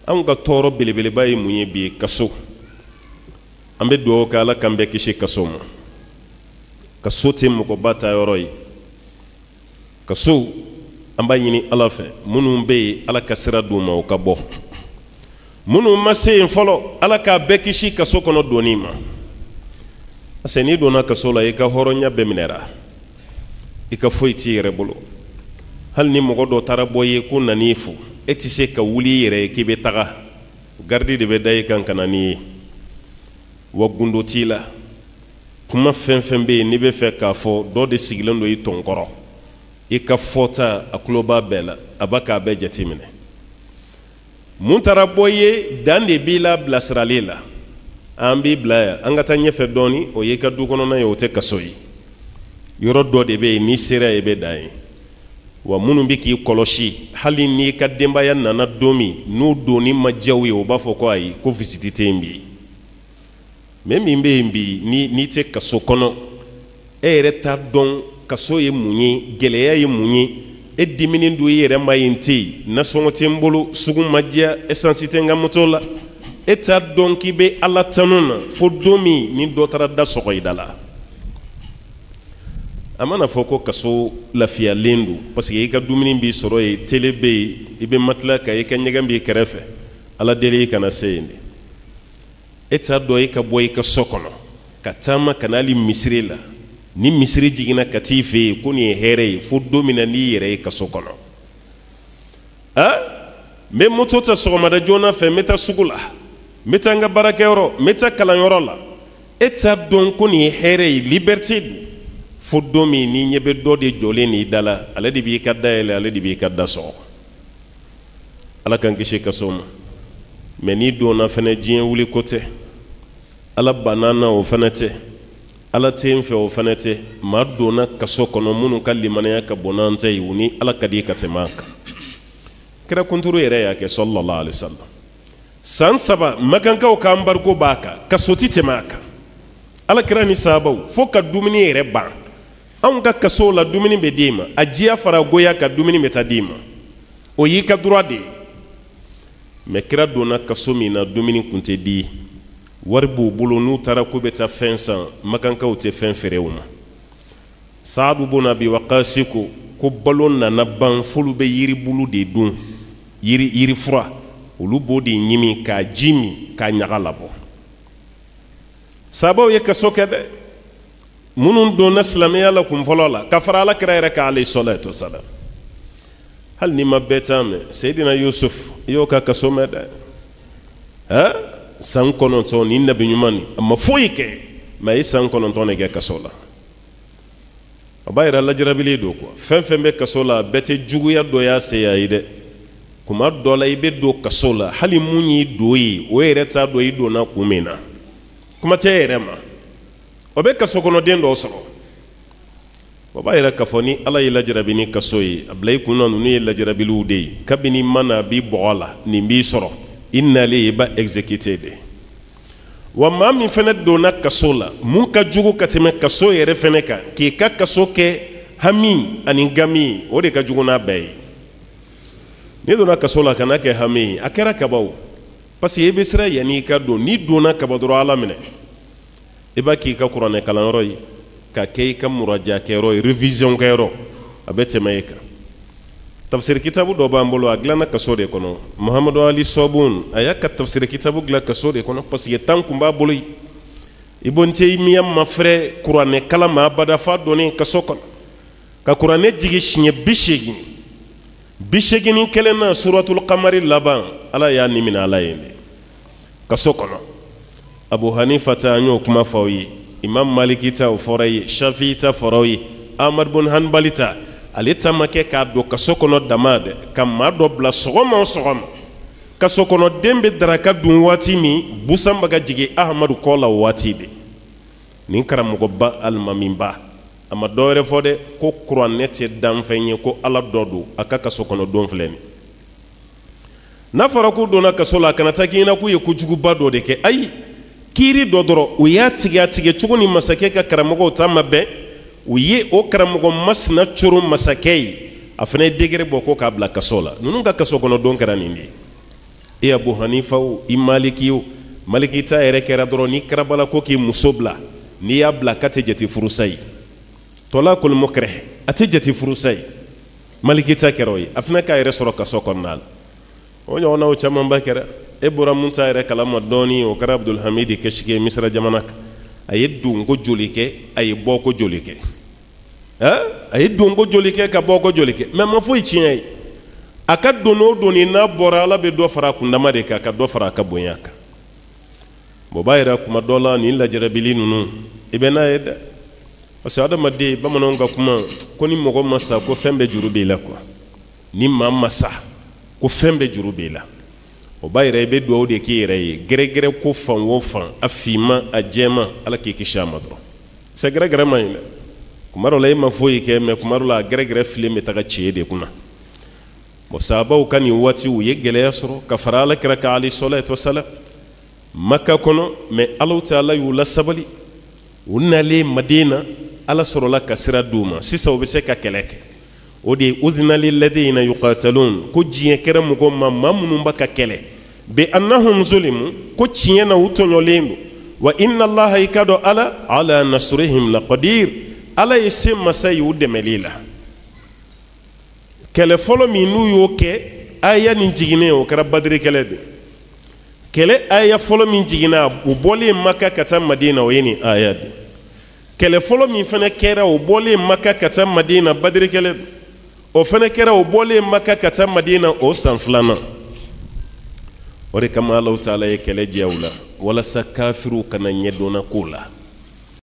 anw ka tɔɔrɔ belebeleba ye mun ye bi kaso an bɛ dugawu kɛ ala k'an bɛɛ kisi kaso ma kaso tɛ mɔgɔba taayɔrɔ ye kaso an b'a ɲini ala fɛ minnu bɛ yen ala ka sira d'u ma u ka bɔ minnu ma se yen fɔlɔ ala k'a bɛɛ kisi kaso kɔnɔ donni ma parce que n'i donna kaso la i ka hɔrɔnya bɛɛ minɛra i ka foyi t'i yɛrɛ bolo hali ni mɔgɔ dɔ taara bɔ i ye ko nan'i fo e tɛ se ka wuli i yɛrɛ ye k'i bɛ taga garidi de bɛ da i kan ka na n'i ye wa gundo t'i la kuma fɛn fɛn bɛ yen n'i b'a fɛ k'a fɔ dɔ de sigilen don i tɔn kɔrɔ i ka fɔta a tulo b'a bɛɛ la a bɛ k'a bɛɛ jateminɛ min taara bɔ i ye dan de b'i la bilasirali la an b'i bila yan an ka taa ɲɛfɛ dɔɔni o y'i ka du kɔnɔna ye o tɛ kaso ye yɔrɔ dɔ de bɛ yen n'i sera yen i bɛ dan yen wa minnu bɛ k'i kɔlɔsi hali n'i ka denbaya nana don min n'u donni ma diya u ye u b'a fɔ ko ayi ko visite tɛ yen bi mɛ min bɛ yen bi ni n'i tɛ kaso kɔnɔ e yɛrɛ t'a dɔn kaso ye mun ye gɛlɛya ye mun ye e diminen don i yɛrɛ ma nin tɛ yen nasɔngɔ tɛ n bolo sugu ma diya esansi tɛ n ka moto la e t'a dɔn k'i bɛ ala tanu na fo don min ni dɔ taara da sɔgɔ i da la a mana fɔ ko kaso lafiyalen don parce que i ka dumuni b'i sɔrɔ yen tele bɛ yen i bɛ matila kan i ka ɲɛgɛn b'i kɛrɛfɛ ala deli i kana se yen dɛ e t'a dɔn e ka bɔ i ka so kɔnɔ ka taama ka n'ali misiri la ni misiri jiginna ka t'i fɛ yen ko nin ye hɛrɛ ye fo don min na n'i yɛrɛ ye kaso kɔnɔ a n bɛ moto ta sɔgɔmada joona fɛ n bɛ taa sugu la n bɛ taa n ka baarakɛyɔrɔ n bɛ taa kalanyɔrɔ la e t'a dɔn ko nin ye hɛrɛ ye liberite don fo don min n'i ɲɛ bɛ dɔ de jɔlen n'i da la ale de b'i ka da yɛlɛ ale de b'i ka da sɔgɔ ala k'an kisi kaso ma mɛ n'i donna fɛnɛ diɲɛ wuli ko tɛ ala banna n na o fɛnɛ tɛ ala tɛ n fɛ o fɛnɛ tɛ maa donna kaso kɔnɔ minnu ka limanaya ka bon n'an ta ye u ni ala ka di ka tɛmɛ an kan kira kunturu yɛrɛ y'a kɛ sallallahu alaihi wasallam san saba makankaw ka anbariko b'a kan kaso ti tɛmɛ a kan ala kira ni sabaw fo ka dumuni yɛrɛ ban anw ka kasow la dumuni bɛ d'i ma a diya fara goya kan dumuni bɛ taa d'i ma o y'i ka droit de ye mɛ kira donna kaso min na dumuni kun tɛ di wari b'u bolo n'u taara k'u bɛ taa fɛn san makankaw tɛ fɛn feere u ma saadu bun abi wakasi ko ko balo nana ban f'olu bɛ yiribulu de dun yiri yirifura olu b'o de ɲimi k'a ji min k'a ɲaga labɔ sabaw ye kaso kɛ dɛ minnu donna silamɛya la kun fɔlɔ la ka fara ala kira yɛrɛ kan alayhi salatu wa salam hali n'i ma bɛɛ ta mɛn seyidina yusuf i y'o ka kaso mɛn dɛ ɛ san kɔnɔntɔn nin nabi ɲuman nin a ma foyi kɛ mɛ a ye san kɔnɔntɔn de kɛ kaso la a b'a yira lajarabilen don kuwa fɛn fɛn bɛ kaso la bɛɛ tɛ juguya dɔ y'a se yen dɛ tuma dɔ la i bɛ don kaso la hali min y'i don yen o yɛrɛ t'a dɔn i donna kun min na kuma tɛ i yɛrɛ ma o bɛ kaso kɔnɔden dɔw sɔrɔ o b'a yira k'a fɔ ni ala y'i lajarabi ni kaso ye a bila i kun na ninnu ye lajarabiw de ye kabini ma na bi bɔgɔ la nin b'i sɔrɔ i nalen i b'a exécuter de wa maa min fana donna kaso la min ka jugu ka tɛmɛ kaso yɛrɛ fana kan k'i ka kaso kɛ hami ani gami o de ka jugu n'a bɛɛ ye n'i donna kaso la kana kɛ hami a kɛra kaban parce que i bɛ siran yanni i ka don n'i donna kaban dɔrɔn ala minɛ i b'a k'i ka kuranɛkalanyɔrɔ ye k'a kɛ i ka murajakɛyɔrɔ ye révision kɛyɔrɔ a bɛ tɛmɛ e kan tafsiri kitabu dɔ b'an bolo a dilanna kaso de kɔnɔ mahamadu ali sɔbuni a y'a ka tafsiri kitabu dilan kaso de kɔnɔ parce que temps tun b'a bolo yen ibun tayimiya ma fɛrɛ kuranɛ kalan ma abada f'a donnen kaso kɔnɔ ka kuranɛ jigin siɲɛ bi seegin bi seegin ni kelen na suratul kamari laban ala y'a ni mina ala ye dɛ kaso kɔnɔ abu hanifa ta an y'o kuma fɔ aw ye imam maliki ta o fɔra aw ye shafi ta fɔra aw ye ahmad bun hanbali ta ale ta ma kɛ k'a don kaso kɔnɔ dama dɛ ka maa dɔ bila sɔgɔma o sɔgɔma kaso kɔnɔ den bɛ daraka dun waati min busan bɛ ka jigin ahamadu kɔ la o waati de nin karamɔgɔba alimamiba a ma dɔ wɛrɛ fɔ dɛ ko kuranɛ tɛ danfɛn ye ko ala dɔ don a ka kaso kɔnɔ don filɛ nin n'a fɔra k'u donna kaso la a kana taa k'i ɲɛna k'u ye kojuguba dɔ de kɛ ayi kiiri dɔ dɔrɔn u y'a tigɛ a tigɛ cogo ni masakɛ ka karamɔgɔw ta ma bɛn u ye o karamɔgɔ masina coro masakɛ ye a fana ye décret bɔ ko k'a bila kaso la ninnu ka kaso kɔnɔ don kɛra nin de ye e abu hanifa o e maliki o maliki ta yɛrɛ kɛra dɔrɔn n'i karabala ko k'i muso bila n'i y'a bila k'a tɛ jate furusa ye tɔlakul mukrah a tɛ jate furusa ye maliki ta kɛra o ye a fana k'a yɛrɛ sɔrɔ kaso kɔnɔna la o ɲɔgɔnna o camanba kɛra e bɔra min ta yɛrɛ kalama dɔɔni o kɛra abudulhamidi kisiki ye misira jamana kan a ye donko joli kɛ a ye bɔko joli kɛ a ye donko joli kɛ ka bɔko joli kɛ mɛ ma foyi tiɲɛ a ye a ka don o don n'a bɔra ala bɛ dɔ fara a kundama de kan ka dɔ fara a ka bonya kan bon b'a yira kuma dɔ la nin lajarabili ninnu i bɛ n'a ye dɛ parce que adamaden bamananw ka kuma ko ni mɔgɔ ma sa ko fɛn bɛɛ juru b'i la quoi ni maa ma sa ko fɛn bɛɛ juru b'i la o b'a yira i bɛ dugawu de k'i yɛrɛ ye gɛrɛgɛrɛ ko fan o fan a finma a jɛma ala k'i kisi a ma dɔrɔn sɛ gɛrɛgɛrɛ man ɲi dɛ kuma dɔ la e ma foyi kɛ mais kuma dɔ la a gɛrɛgɛrɛ filen bɛ taga ci e de kunna bon sahabaw ka nin waati u ye gɛlɛya sɔrɔ ka fara ala kira kan alayhi salatu wa salam maka kɔnɔ mais ala taala y'u lasabali u nalen madina ala sɔrɔla ka sira di u ma sisan u bɛ se ka kɛlɛ kɛ o de ye uzina lilazina yukataluna ko diɲɛ kɛra mɔgɔ ma ma minnu bɛ ka kɛlɛ bi annahum zulimu ko tiɲɛ na u tɔɲɔlen don wa innalaha i k'a dɔn ala ala nasirihim lakadir ala ye se masa ye u dɛmɛli la kɛlɛ fɔlɔ min n'u y'o kɛ aya nin jiginnen o kɛra badiri kɛlɛ de kɛlɛ aya fɔlɔ min jiginna u bɔlen maka ka taa madina o ye nin aya de kɛlɛ fɔlɔ min fana kɛra o bɔlen maka ka taa madina badiri kɛlɛ de o fana kɛra o bɔlen maka ka taa madina o san filanan o de kama alahu taala ye kɛlɛ diya u la walasa kafiriw kana ɲɛ don a ko la